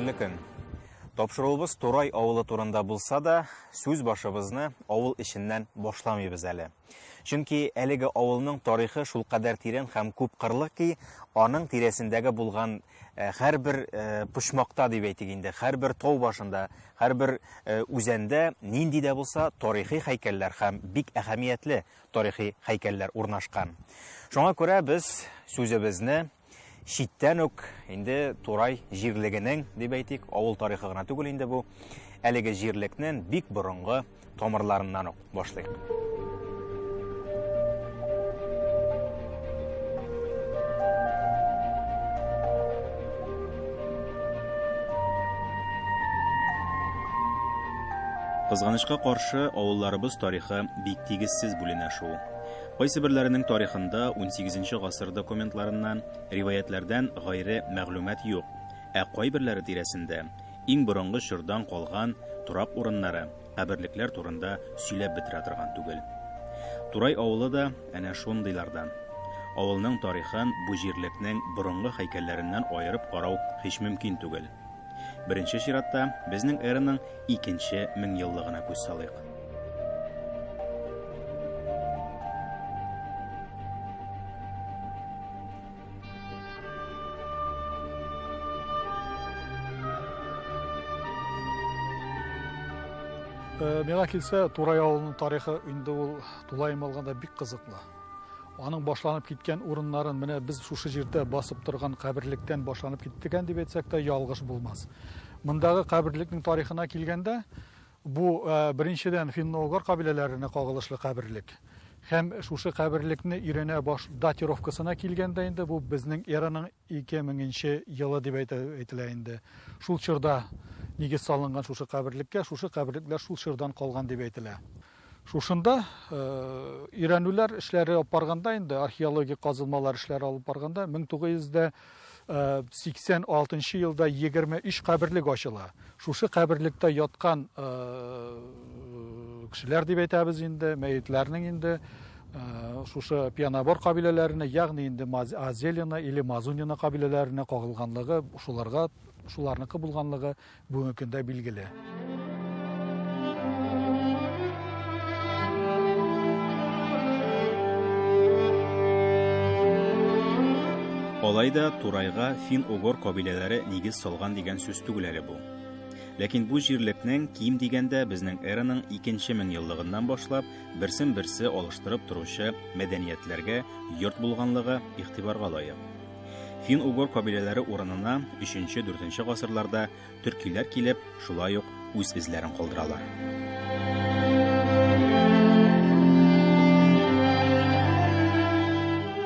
Хәерле көн. Тапшыруыбыз Турай авылы турында булса да, сүз башыбызны авыл эченнән башламыйбыз әле. Чөнки әлеге авылның тарихы шулкадәр тирән һәм күп кырлы ки, аның тирәсендәге булган Э, һәрбер э, почмакта дип әйтик инде һәрбер тау башында һәрбер э, үзәндә нинди дә булса тарихи һәйкәлләр һәм бик әһәмиятле тарихи һәйкәлләр урнашкан шуңа күрә без сүзебезне читтән үк инде турай җирлегенең дип әйтик авыл тарихы гына түгел инде бу әлеге җирлекнең бик борынгы тамырларыннан ук башлыйк. Кызганычка каршы, авылларыбыз тарихы бик тигезсез бүленә шул. Кайсы берләренең тарихында 18 гасыр документларыннан, риваятьләрдән гайре мәгълүмат юк, ә кайберләре тирәсендә Иң борынгы чордан калган торак урыннары, каберлекләр турында сөйләп бетерә торган түгел. Турай авылы да әнә шундыйлардан. Авылның тарихын бу җирлекнең борынгы һәйкәлләреннән аерып карау һич мөмкин түгел. Беренче чиратта безнең эраның икенче меңьеллыгына күз салыйк. Э, миңа килсә турай авылының тарихы инде ул тулаем алганда бик кызыклы аның башланып киткән урыннарын менә без шушы җирдә басып торган каберлектән башланып киттегән дип әйтсәк тә ялгыш булмас мындагы каберлекнең тарихына килгәндә Бу, беренчедән, финно-угор кабиләләренә кагылышлы каберлек. Һәм шушы каберлекне өйрәнә баш датировкасына килгәндә инде, бу безнең эраның ике меңенче елы дип әйтә, әйтелә инде. Шул чорда нигез салынган шушы каберлеккә, шушы каберлекләр шул чордан калган дип әйтелә. Шушында өйрәнүләр эшләре алып барганда инде, археологик казылмалар эшләре алып барганда, мең тугыз йөз дә 86 э, елда 23 каберлек ачыла. Шушы каберлектә яткан э, кешеләр дип әйтәбез инде, мәетләрнең инде э, шушы пианабор кабиләләренә, ягъни инде Азелина или Мазунина кабиләләренә кагылганлыгы, шуларга шуларныкы булганлыгы Бүгенге көндә билгеле. Алай да Турайга фин-угор кабиләләре нигез салган дигән сүз түгел әле бу. Ләкин бу җирлекнең ким дигәндә безнең эраның икенче меңъеллыгыннан башлап берсен-берсе алыштырып торучы мәдәниятләргә йорт булганлыгы игътибарга лаек. Фин-угор кабиләләре урынына 3-4 гасырларда төркиләр килеп, шулай ук үз эзләрен калдыралар.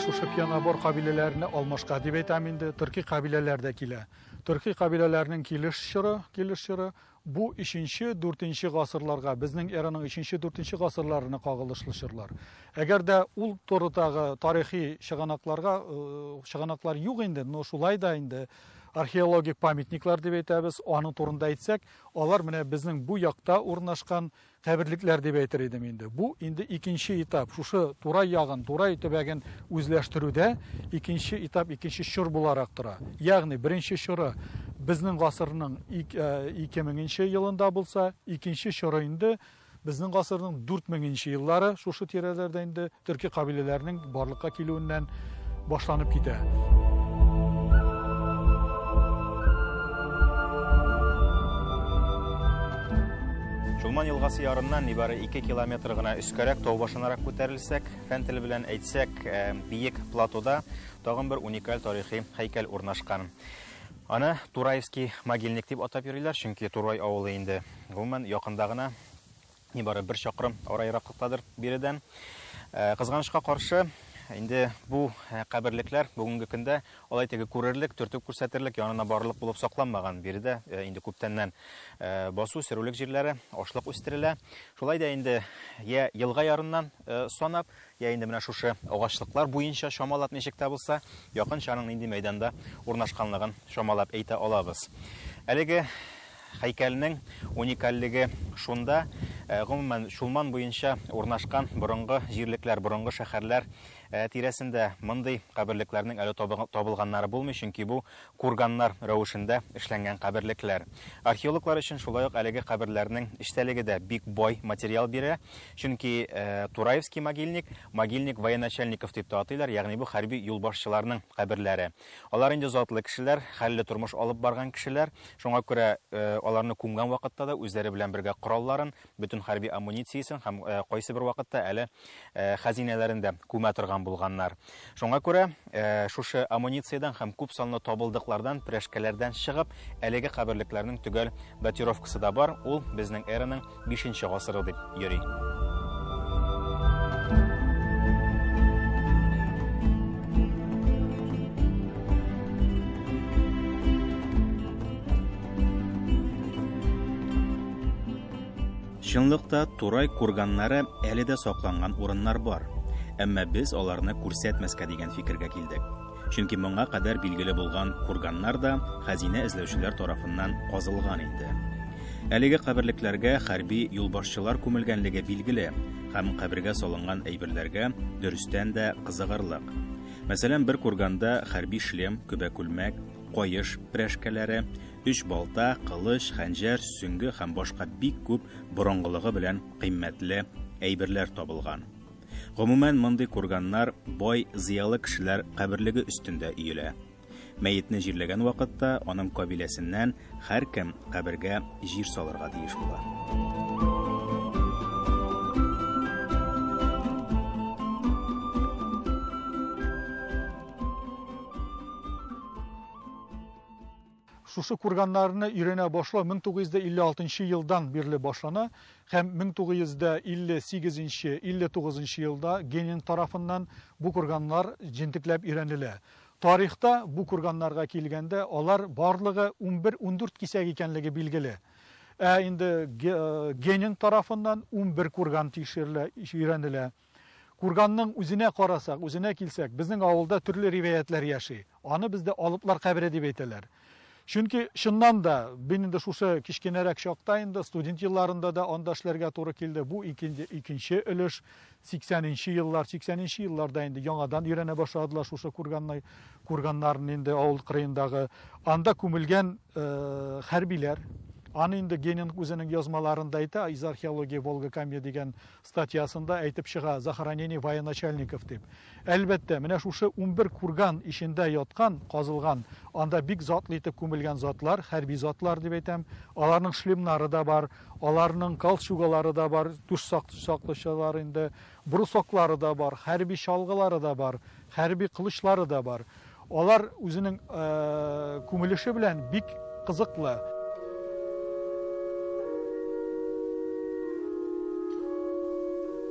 Шушы пьянобор кабиләләренә алмашка дип әйтәм инде, төрки кабиләләр дә килә. Төрки кабиләләрнең килеш чоры, килеш чоры Бу өченче, дүртенче гасырларга, безнең эраның өченче, дүртенче гасырларына кагылышлы чорлар. Әгәр дә ул турыдагы тарихи чыганакларга чыганаклар юк инде, но шулай да инде археологик памятниклар дип әйтәбез, аның турында әйтсәк, алар менә безнең бу якта урнашкан Каберлекләр дип әйтер идем инде. Бу инде икенче этап. Шушы Турай ягын, Турай төбәген үзләштерүдә икенче этап, икенче чор буларак тора. Ягъни, беренче чоры безнең гасырның ик, ә, ике меңенче елында булса, икенче чоры инде безнең гасырның дүрт меңенче еллары, шушы тирәләрдә инде Төрки кабиләләрнең барлыкка килүеннән башланып китә. Чулман елгасы ярыннан нибары 2 километр гына өскәрәк тау башынарак күтәрелсәк, фән теле белән әйтсәк, э, биек платода тагын бер уникаль тарихи һәйкәл урнашкан. Аны Тураевский могильник дип атап йөриләр, чөнки Турай авылы инде гомумән якында гына нибары бер чакрым ара ераклыктадыр биредән. Э, кызганычка каршы, инде бу э, каберлекләр бүгенге көндә алай теге күрерлек, төртеп күрсәтерлек, янына барырлык булып сакланмаган. Биредә э, инде күптәннән э, басу, сөрүлек җирләре, ашлык үстерелә. Шулай да инде я елга ярыннан санап, Йә инде менә шушы агачлыклар буенча чамалап ничек тә булса, якынчаның нинди мәйданда урнашканлыгын чамалап әйтә алабыз. Әлеге һәйкәлнең уникальлеге шунда, гомумән, Чулман буенча урнашкан борынгы җирлекләр, борынгы шәһәрләр тирәсендә мондый каберлекләрнең әле табылганнары булмый, чөнки бу Курганнар рәвешендә эшләнгән каберлекләр. Археологлар өчен шулай ук әлеге каберләрнең эчтәлеге дә бик бай материал бирә, чөнки Тураевский могильник, могильник военачальников дип тә атыйлар, ягъни бу хәрби юлбашчыларның каберләре. Алар инде затлы кешеләр, хәлле тормыш алып барган кешеләр, шуңа күрә аларны күмгән вакытта да үзләре белән бергә коралларын, бөтен хәрби амунициясен һәм кайсыбер вакытта әле хәзинәләрен дә күмә торган булганнар. Шуңа күрә шушы амунициядан һәм күп санлы табылдыклардан, прәшкәләрдән чыгып, әлеге каберлекләрнең төгәл датировкасы да бар, ул безнең эраның бишенче гасыры дип йөри. Чынлыкта Турай курганнары әле дә сакланган урыннар бар. Әмма без аларны күрсәтмәскә дигән фикергә килдек. Чөнки моңа кадәр билгеле булган курганнар да хәзинә эзләүчеләр тарафыннан казылган инде. Әлеге каберлекләргә хәрби юлбашчылар күмелгәнлеге билгеле, һәм кабергә салынган әйберләргә дөрестән дә кызыгырлык. Мәсәлән, бер курганда хәрби шлем, көбә күлмәк, каеш прәшкәләре, өч балта, кылыч, хәнҗәр, сөңге һәм башка бик күп борынгылыгы белән кыйммәтле әйберләр табылган. Гомумән, мондый курганнар бай, зыялы кешеләр каберлеге өстендә өелә. Мәетне җирләгән вакытта аның кабиләсеннән һәркем кабергә җир салырга тиеш була. Шушы курганнарны өйрәнә башлау 1956 елдан бирле башлана һәм 1958-59 елда Генин тарафыннан бу курганнар җентекләп өйрәнелә. Тарихта бу курганнарга килгәндә, алар барлыгы 11-14 кисәк икәнлеге билгеле. Ә инде Генин тарафыннан 11 курган тикшерелә, өйрәнелә. Курганның үзенә карасак, үзенә килсәк, безнең авылда төрле ривәятләр яши. Аны бездә алыплар кабере дип әйтәләр. Чөнки чыннан да мин инде шушы кечкенәрәк чакта инде студент елларында да анда эшләргә туры килде. Бу икенче, икенче өлеш 80 нче еллар, 80 нче елларда инде яңадан өйрәнә башладылар шушы курганны, курганнарны инде авыл кырыендагы. Анда күмелгән э, хәрбиләр, Аны инде Генинг үзенең язмаларында әйтә, из археологии Волга-Камья дигән Статьясында әйтеп чыга, захоронение военачальников дип. Әлбәттә, менә шушы унбер курган эчендә яткан, казылган, анда бик затлы итеп күмелгән затлар, хәрби затлар дип әйтәм, аларның шлемнары да бар, аларның калчугалары да бар, түш саклычлар инде, брусоклары да бар, хәрби чалгылары да бар, хәрби кылычлары да бар. Алар үзенең күмелеше белән бик кызыклы.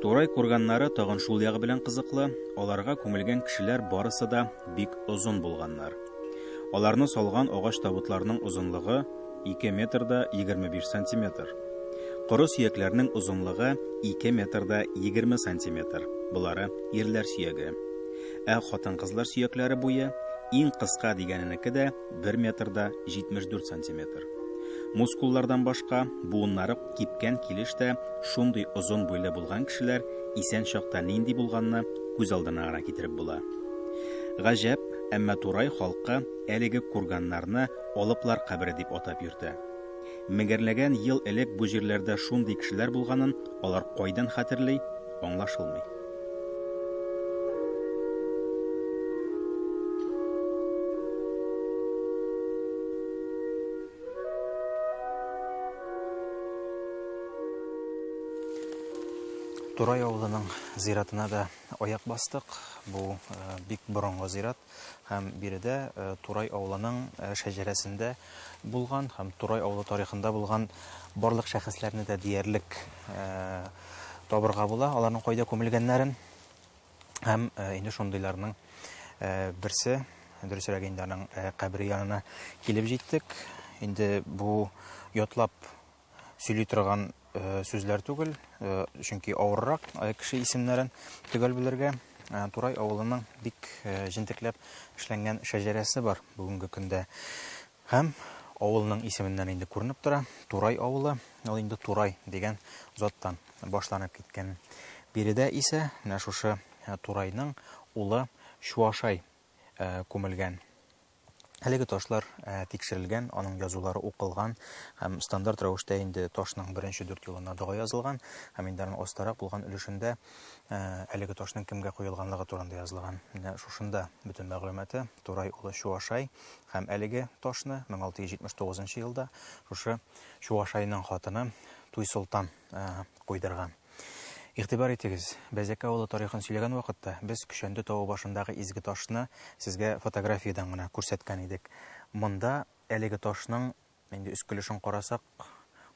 Турай курганнары тагын шул ягы белән кызыклы, аларга күмелгән кешеләр барысы да бик озын булганнар. Аларны салган агач табутларның озынлыгы 2 метр да 25 сантиметр. Коры сөякләрнең озынлыгы 2 метр да 20 сантиметр. Болары ирләр сөяге. Ә хатын-кызлар сөякләре буе иң кыска дигәненеке дә 1 метрда 74 сантиметр. Мускуллардан башка, буыннары кипкән килеш тә шундый озын буйлы булган кешеләр исән чакта нинди булганны күз алдына гына китереп була. Гаҗәп, әмма Турай халкы әлеге курганнарны алыплар кабере дип атап йөртә. Меңәрләгән ел элек бу җирләрдә шундый кешеләр булганын алар кайдан хәтерли, аңлашылмый. Турай авылының зиратына да аяк бастык. Бу э, бик борынгы зират. Һәм биредә Турай авылының шәҗәрәсендә булган һәм Турай авылы тарихында булган барлык шәхесләрне дә диярлек табырга була, аларның кайда күмелгәннәрен. Һәм инде шундыйларның берсе, дөресрәк инде аның кабере янына килеп җиттек. Инде бу ятлап сөйли торган э, сүзләр түгел, э, чөнки авыррак э, кеше исемнәрен төгәл белергә. Турай авылының бик җентекләп эшләнгән шәҗәрәсе бар бүгенге көндә. Һәм авылның исеменнән инде күренеп тора, Турай авылы, ул инде Турай дигән заттан башланып киткән. Биредә исә менә шушы Турайның улы Чуашай күмелгән. Әлеге ташлар тикшерелгән, аның язулары укылган һәм стандарт рәвештә инде ташның беренче дүрт юлына дога язылган һәм инде аның астарак булган өлешендә әлеге ташның кемгә куелганлыгы турында язылган. Менә шушында бөтен мәгълүматы. Турай улы Чуашай һәм әлеге ташны 1679 елда шушы Чуашайның хатыны Туйсолтан куйдырган. Игътибар итегез, Бәзәкә авылы тарихын сөйләгән вакытта, без Көчәнтү тавы башындагы изге ташны сезгә фотографиядән генә күрсәткән идек. Монда әлеге ташның, инде өскелешен карасак,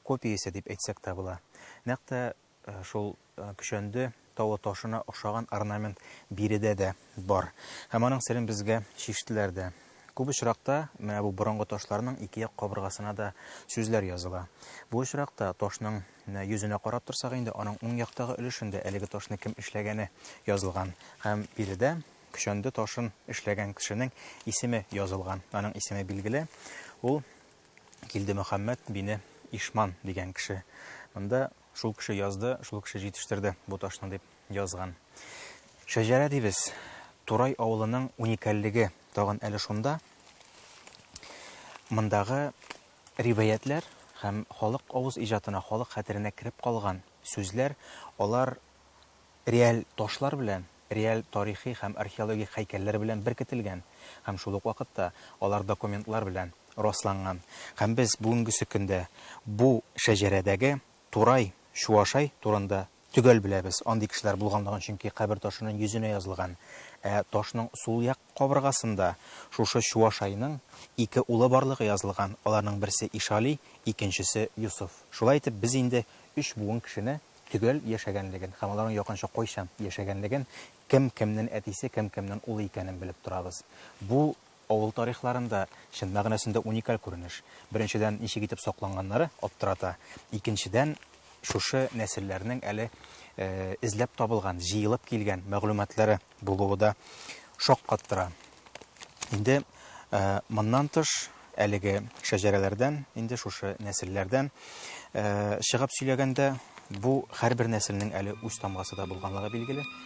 копиясе дип әйтсәк тә була. Нәкъ тә шул Көчәнде тавы ташына охшаган орнамент биредә дә бар. Һәм аның серен безгә чиштеләр дә. Күп очракта менә бу борынгы ташларның ике як кабыргасына да сүзләр языла. Бу очракта ташның Менә йөзенә карап торсак инде, аның уң яктагы өлешендә әлеге ташны кем эшләгәне язылган. Һәм биредә көчәнде ташын эшләгән кешенең исеме язылган. Аның исеме билгеле, ул Килдемөхәммәт бине Ишман дигән кеше. Монда шул кеше язды, шул кеше җитештерде бу ташны дип язган. Шәҗәрә дибез. Турай авылының уникальлеге тагын әле шунда. Мондагы Риваятьләр һәм халык авыз иҗатына, халык хәтеренә кереп калган сүзләр, алар реаль ташлар белән, реаль тарихи һәм археологик һәйкәлләр белән беркетелгән һәм шул ук вакытта алар документлар белән расланган. Һәм без бүгенгесе көндә бу шәҗәрәдәге Турай, Чуашай турында Төгәл беләбез, андый кешеләр булганлыгын, чөнки кабер ташының йөзенә язылган. Ә ташның сул як кабыргасында шушы Чуашайның ике улы барлыгы язылган, аларның берсе Ишали, икенчесе Йосыф. Шулай итеп, без инде өч буын кешене төгәл яшәгәнлеген һәм аларның якынча кайчан яшәгәнлеген, кем кемнен әтисе, кем кемнен улы икәнен белеп торабыз. Бу Авыл тарихларында, чын мәгънәсендә уникаль күренеш. Беренчедән, ничек итеп сакланганнары аптырата. Икенчедән, шушы нәселләрнең әле эзләп табылган, җыелып килгән мәгълүматлары булуы да шаккаттыра. Инде моннан тыш, әлеге шәҗәрәләрдән, инде шушы нәселләрдән чыгып сөйләгәндә, бу һәрбер нәселнең әле үз тамгасы да булганлыгы билгеле.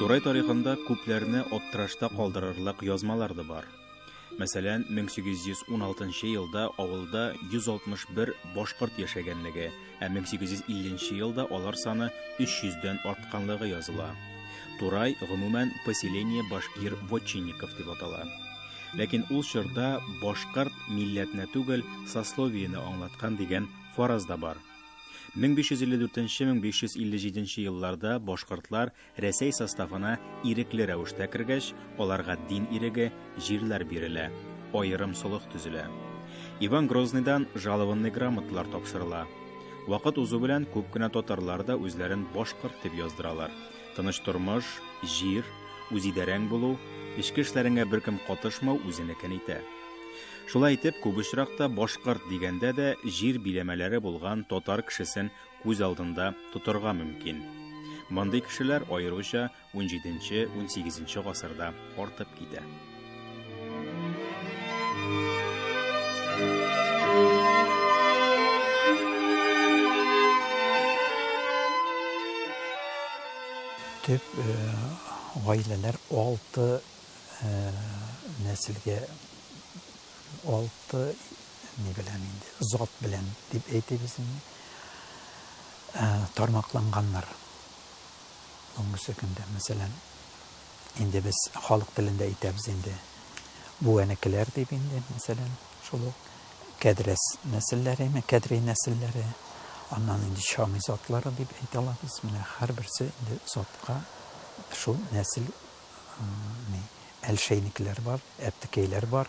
Турай тарихында күпләрне аптырашта калдырырлык язмалар да бар. Мәсәлән, 1816 елда авылда 161 башкорт яшәгәнлеге, ә 1850 елда алар саны 300 дән артканлыгы языла. Турай, гомумән, поселение башкир вотчинников дип атала. Ләкин ул чорда башкорт милләтне түгел, сословиене аңлаткан дигән фараз да бар. 1554-1557 елларда башкортлар Рәсәй составына ирекле рәвештә кергәч, аларга дин иреге, җирләр бирелә, аерым солых төзелә. Иван Грозныйдан жалованный грамоталар тапшырыла. Вакыт узу белән күп кенә татарлар да үзләрен башкорт дип яздыралар. Тыныч тормыш, җир, үзидарәң булу, эчке эшләреңә беркем катышмау үзенекен итә. Шулай итеп, күп очракта башкорт дигәндә дә җир биләмәләре булган татар кешесен күз алдында тотарга мөмкин. Мондый кешеләр аеруча унҗиденче-унсигезенче гасырда артып китә. Төп гаиләләр алты нәселгә алты ни белән инде зат белән дип әйтәбез инде тармакланганнар бүгенге көндә мәсәлән Инде без халык телендә әйтәбез инде. Бүәнекеләр дип инде, мәсәлән, шул ук кәдрәс нәселләре, кәдри нәселләре, аннан инде чами затлары дип әйтә алабыз. Менә һәрберсе инде затка шул нәсел ни әлшәйникләр бар, әптекәйләр бар.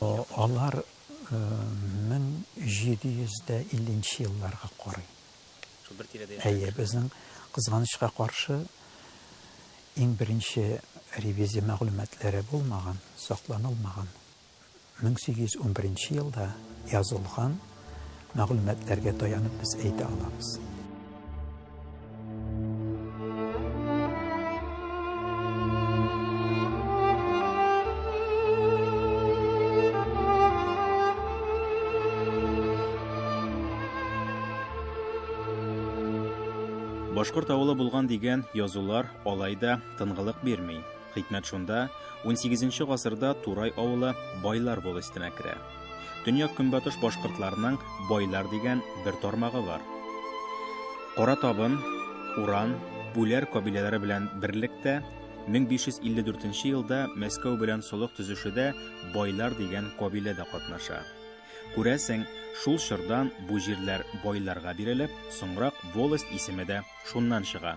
Алар 1750 елларга карый. Әйе, безнең, кызганычка каршы, иң беренче ревизия мәгълүматлары булмаган, сакланылмаган. 1811 елда язылган мәгълүматларга таянып без әйтә алабыз. Башкорт авылы булган дигән язулар алай да тынгылык бирми. Хикмәт шунда, унсигезенче гасырда Турай авылы байлар волостенә керә. Төньяк-көнбатыш башкортларының байлар дигән бер тармагы бар. Кара табын, Уран, Бүләр кабиләләре белән берлектә 1554 елда Мәскәү белән солых төзүшедә байлар дигән кабилә дә катнаша. Күрәсең, шул чордан бу җирләр байларга бирелеп, соңрак волость исеме дә шуннан чыга.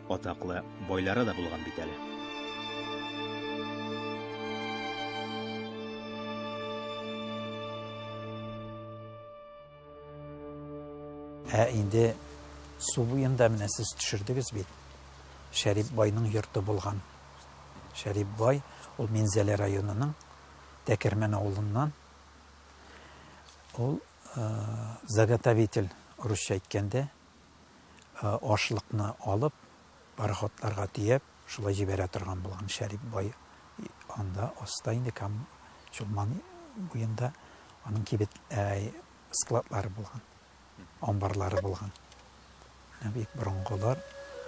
Атаклы байлары да булган бит әле. Ә инде су буенда менә сез төшердегез бит. Шәрип байның йорты булган. Шәрип бай ул Минзәлә районының Тәкермән авылыннан. Ул э, заготовитель русча әйткәндә Ашлыкны алып, пароходларга төяп, шулай җибәрә торган булган Шәрип бай анда, аста инде, Кама, Чулман буенда аның кибет, складлары булган, амбарлары булган. Менә бик борынгылар.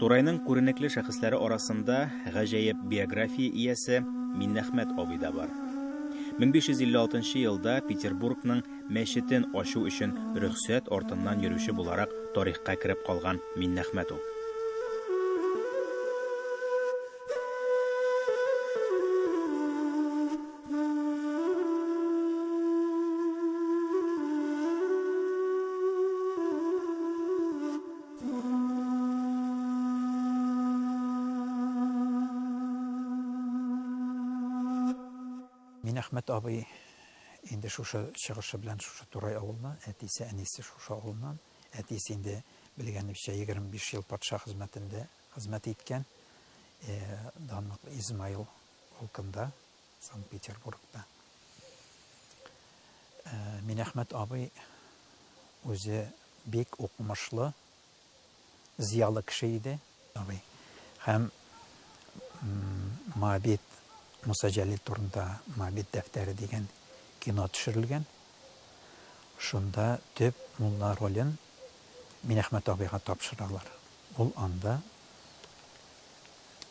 Турайның күренекле шәхесләре арасында гаҗәеп биография иясе Миннәхмәт абый да бар. 1556 елда Петербургның мәчетен ачу өчен рөхсәт артыннан йөрүче буларак тарихка кереп калган Миннәхмәт ул. Минәхмәт абый инде шушы чыгышы белән шушы Турай авылына, әтисе, әнисе шушы авылыннан. Әтисе инде белгәнебезчә 25 ел патша хезмәтендә хезмәт иткән. Данлыклы Измаил полкында, Санкт-Петербургта. Э, Минәхмәт абый үзе бик укымышлы, зиялы кеше иде. Абый. Һәм Мабит Муса Җәлил турында Мабит дәфтәре дигән кино төшерелгән. Шунда төп мулла ролен Минәхмәт абыйга тапшыралар. Ул анда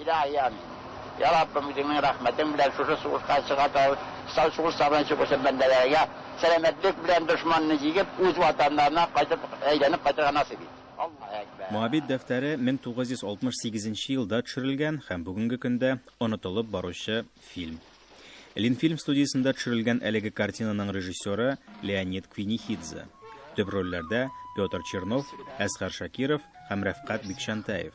Илаһи амин! Йа Раббым, үзеңнең рәхмәтең белән шушы сугышка чыга торган сугышлардан чыгучы бәндәләргә сәламәтлек белән дошманны җигеп, үз ватаннарына кайтып, әйләнеп кайтырга насыйп ит. Аллаһ әкбәр! Моабит дәфтәре 1968 елда төшерелгән һәм бүгенге көндә онытылып баручы фильм. Ленфильм студиясендә төшерелгән әлеге картинаның режиссеры, Леонид Квинихидзе. Төп рольләрдә, Петр Чернов, Әсгар Шакиров һәм Рәфкать Бикчәнтәев.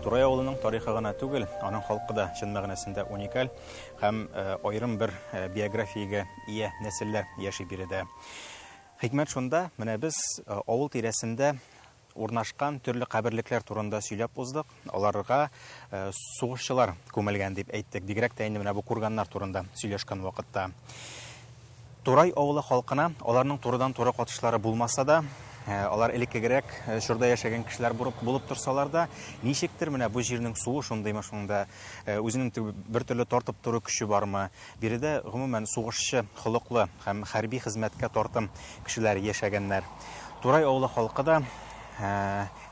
Турай авылының тарихы гына түгел, аның халкы да чын мәгънәсендә уникаль һәм э, аерым бер э, биографиягә ия нәселләр яши биредә. Хикмәт шунда, менә без э, авыл тирәсендә урнашкан төрле каберлекләр турында сөйләп уздык. Аларга сугышчылар күмелгән дип әйттек, бигрәк тә инде менә бу курганнар турында сөйләшкән вакытта. Турай авылы халкына аларның турыдан-туры катышлары булмаса да, алар элеккегерәк чорда яшәгән кешеләр булып, булып торсалар да, ничектер менә бу җирнең суы шундыймы шунда, үзенең бер төрле тартып тору көче бармы? Биредә гомумән сугышчы холыклы һәм хәрби хезмәткә тартым кешеләр яшәгәннәр. Турай авылы халкы да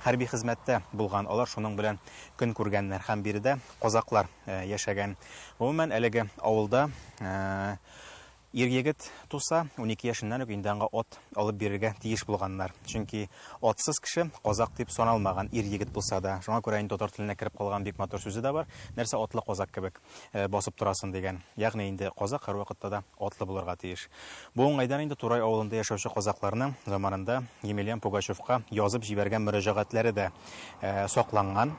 Хәрби хезмәттә булган алар шуның белән көн күргәннәр һәм биредә казакълар яшәгән. Гомумән, әлеге авылда ир-егет туса, унике яшеннән үк инде аңа ат алып бирергә тиеш булганнар. Чөнки атсыз кеше казак дип саналмаган, ир-егет булса да. Шуңа күрә инде татар теленә кереп калган бик матур сүзе дә бар, нәрсә, атлы казак кебек. басып торасың, дигән. Ягъни инде казак һәрвакытта да атлы булырга тиеш. Бу уңайдан инде Турай авылында яшәүче казакларның заманында Емельян Пугачевка язып җибәргән мөрәҗәгатьләре дә сакланган.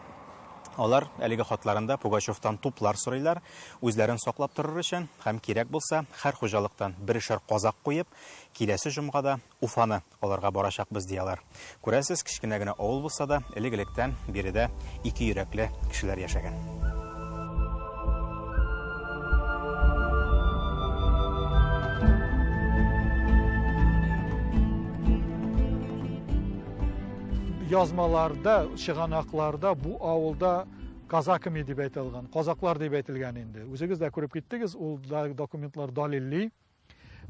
Алар әлеге хатларында Пугачевтан туплар сорыйлар, үзләрен саклап торыр өчен һәм кирәк булса, һәр хуҗалыктан берешәр казак куеп, киләсе җомгада Уфаны алырга барачакбыз, ди алар. Күрәсез, кечкенә генә авыл булса да, элек-электән биредә ике йөрәкле кешеләр яшәгән. язмаларда, чыганакларда бу авылда казаками дип әйтелгән, казаклар дип әйтелгән инде. Үзегез дә күреп киттегез, ул документлар далилли.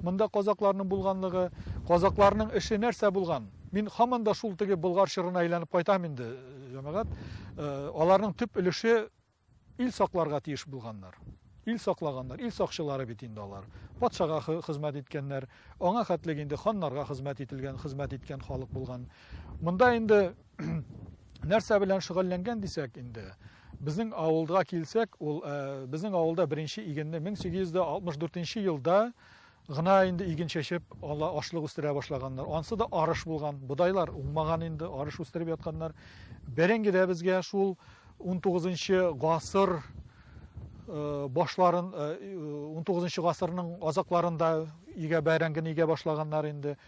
Монда казакларның булганлыгы, казакларның эше нәрсә булган? Мин һаман да шул теге Болгар чорына әйләнеп кайтам инде, җәмәгать. Аларның төп өлеше ил сакларга тиеш булганнар. Ил саклаганнар, ил сакчылары бит инде алар. Патшага хезмәт иткәннәр, аңа хәтлек инде ханнарга хезмәт ителгән, хезмәт иткән халык булган. Монда инде нәрсә белән шөгыльләнгән дисәк инде, безнең авылга килсәк, ул э, безнең авылда беренче игенне 1864 елда гына инде иген чәчеп, ала ашлык үстерә башлаганнар. Ансы да арыш булган, бодайлар уңмаган инде, арыш үстереп ятканнар. Бәрәңге дә безгә шул 19 гасыр э, башларын 19 э, гасырның азакларында игә бәрәңгене игә башлаганнар инде.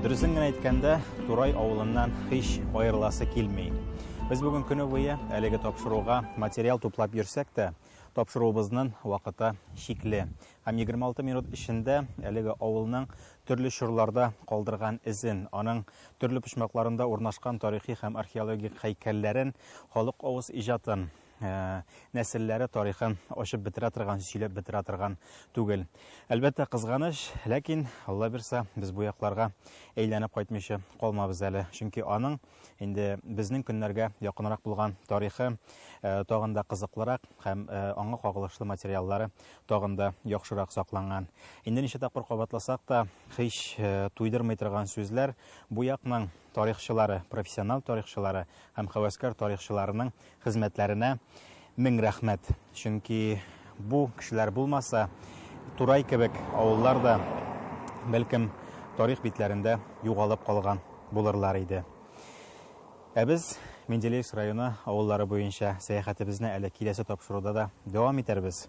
Дөресен генә әйткәндә, Турай авылыннан һич аерыласы килми. Без бүген көне буе әлеге тапшыруга материал туплап йөрсәк тә, тапшыруыбызның вакыты чикле. Һәм 26 минут эчендә әлеге авылның төрле чорларда калдырган эзен, аның төрле почмакларында урнашкан тарихи һәм археологик һәйкәлләрен, халык авыз иҗатын, Э, нәселләре тарихын ачып бетерә торган сөйләп бетерә торган түгел әлбәттә кызганыч ләкин алла бирса без бу якларга әйләнеп кайтмыйча калмабыз әле чөнки аның инде безнең көннәргә якынрак булган тарихы э, тагын да кызыклырак һәм э, аңа кагылышлы материаллары тагын да яхшырак сакланган инде ничә тапкыр кабатласак та һич туйдырмый торган сүзләр бу якның тарихчылары профессионал тарихчылары һәм хәвәскәр тарихчыларының Хезмәтләренә мең рәхмәт. Чөнки бу кешеләр булмаса, Турай кебек авыллар да, бәлкем, тарих битләрендә югалып калган булырлар иде. Ә без Менделеевск районы авыллары буенча сәяхәтебезне әле киләсе тапшыруда да дәвам итәрбез.